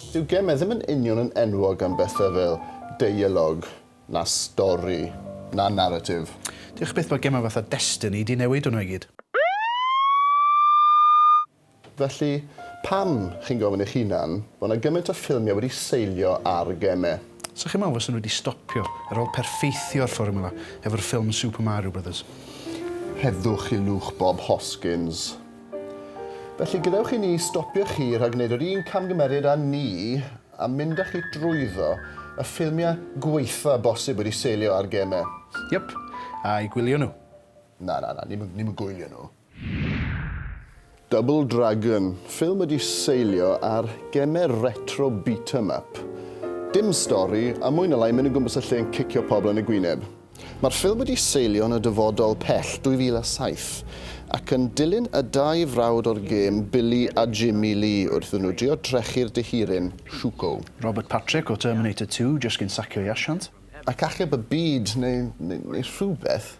Dyw geme ddim yn union yn enwog am bethau fel deialog, na stori, na naratif. Diolch byth bod gemau fatha Destiny 'di newid hwnnw i gyd. Felly, pam, chi'n gofyn eich hunan, bod 'na gymaint o ffilmiau wedi seilio ar geme? 'Sa chi'n meddwl fysen nhw wedi stopio ar ôl perffeithio'r fformwla efo'r ffilm Super Mario Brothers. Rhedwch i lwch Bob Hoskins. Felly, gadewch i ni stopio chi rhag gwneud yr un camgymeriad â ni a mynd â chi drwyddo y ffilmiau gwaetha' bosib wedi seilio ar gemau. Yep, a'i gwylio nhw. Na, na, na, ni'm yn gwylio nhw. Double Dragon, ffilm wedi seilio ar gemer retro beat 'em up. Dim stori, a mwy na lai mynd o gwmpas y lle yn cicio pobl yn y gwyneb. Mae'r ffilm wedi seilio yn y dyfodol pell 2007, ac yn dilyn y dau frawd o'r gêm, Billy a Jimmy Lee, wrth iddyn nhw drio drechu'r dihiryn, Shuko. Robert Patrick o Terminator Two jyst cyn sacio ei asiant. ac achub y byd neu, neu, neu rhywbeth.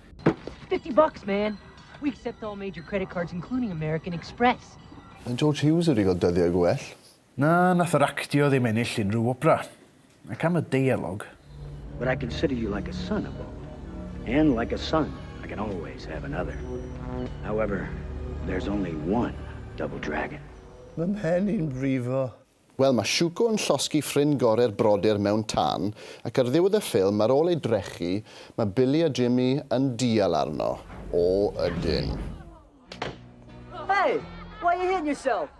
Fifty bucks, man! We accept all major credit cards including American Express. Mae George Hughes wedi cael dyddiau gwell. Na, nath yr actio ddim ennill unrhyw wobra. Ac am y deialog. But I consider you like a son a Bob. And like a son, I can always have another. However, there's only one Double Dragon. Mae mhen i'n brifo. Wel, mae Shuko yn llosgi ffrind gore'r brodyr mewn tân, ac ar ddiwedd y ffilm, ar ôl ei drechu, mae Billy a Jimmy yn dial arno. O, ydyn. Hey! Why you hitting yourself?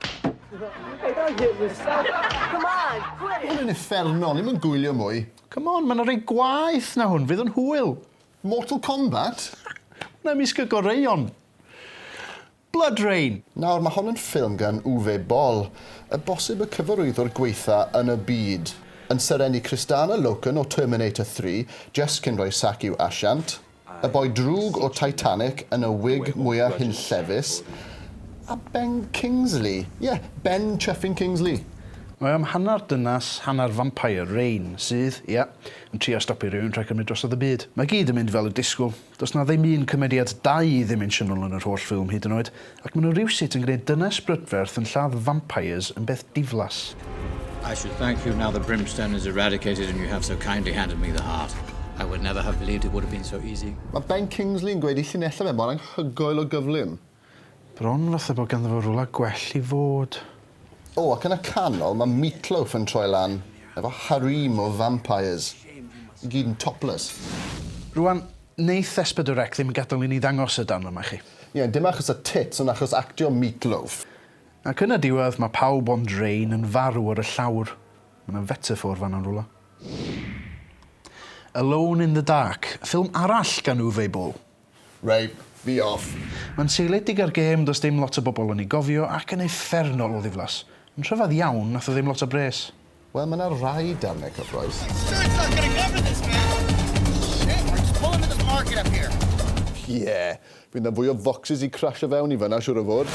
Hey, don't hit yourself! Come on, quit it! Hwn yn uffernol, ni'm yn gwylio mwy. Come on, mae 'na rai gwaeth na hwn, fydd yn hwyl. Mortal Kombat? Hwnna ymysg y goreuon. Blood Rain! Nawr, mae hon yn ffilm gan Uwe Boll, y bosib y cyfarwyddwr gwaetha yn y byd, yn serennu Kristanna Loken o Terminator Three, Jess cyn rhoi sac i'w asiant, y boi drwg o Titanic yn y wig mwya hunllefus, a Ben Kingsley, ie, Ben Chuffing Kingsley! Mae o am hanner dynas, hanner vampire, Rain, sydd, ie, yn trio stopio rhywun rhag cymryd drosodd y byd. Mae gyd yn mynd fel y disgwl. Does 'na ddim un cymeriad dau-ddimensiynol yn yr holl ffilm hyd yn oed, ac ma' nhw rywsut yn gwneud dynes brydferth yn lladd vampires yn beth diflas. I should thank you now the brimstone is eradicated and you have so kindly handed me the heart. I would never have believed it would have been so easy. Mae Ben Kingsley yn gweud ei llinellau fe mor anghygoel o gyflym. Bron fatha bod ganddo fo rwla gwell i fod. O, ac yn y canol mae Meatloaf yn troi lan efo harem o vampires, i gyd yn topless. Rwan, neith Espedorec ddim gadel i ni ddangos y darn yma chi. Ie, dim achos y tits ond achos actio Meatloaf. Ac yn y diwedd mae pawb ond Rain yn farw ar y llawr. Mae 'na fetaffôr fan'na yn rwla. Alone in the Dark, ffilm arall gan Uwe Boll. Reit, fi off. Mae'n seiliedig ar gêm does dim lot o bobl yn ei gofio ac yn uffernol o ddiflas. Yn rhyfedd iawn, nath o ddim lot o bres. Wel mae 'na rai darnau cyffrous. Ie, fydd 'na fwy o focsys i crasho fewn i fan'na siŵr o fod.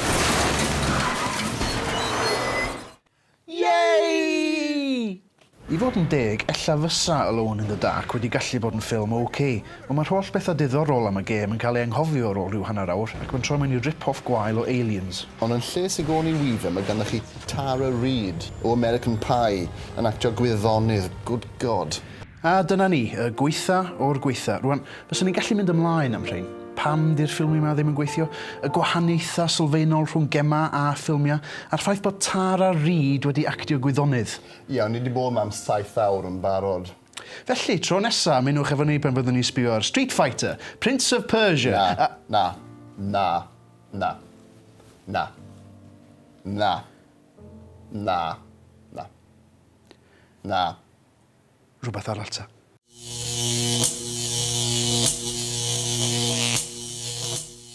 Yay! I fod yn deg, ella fysa Alone in the Dark wedi gallu bod yn ffilm ok, ond mae'r holl bethau diddorol am y gêm yn cael ei anghofio ar ôl rhyw hanner awr ac mae'n troi mewn i rip-off gwael o Aliens. Ond yn lle Sigourney Weaver mae ganddoch chi Tara Reid o American Pie yn actio gwyddonydd, good God! A dyna ni, y gwaetha o'r gwaetha. Rwan, fyswn i'n gallu mynd ymlaen am rhein. Pam 'di'r ffilmie 'ma ddim yn gweithio? Y gwahaniaethau sylfaenol rhwng gemau a ffilmiau, a'r ffaith bod Tara Reid wedi actio gwyddonydd. Iawn, ni 'di bod 'ma am saith awr yn barod. Felly, tro nesa, ymunwch efo ni pan fyddwn ni'n sbio ar Street Fighter, Prince of Persia, Na, a... na, na, na, na, na, na, na, na. rhywbeth arall ta.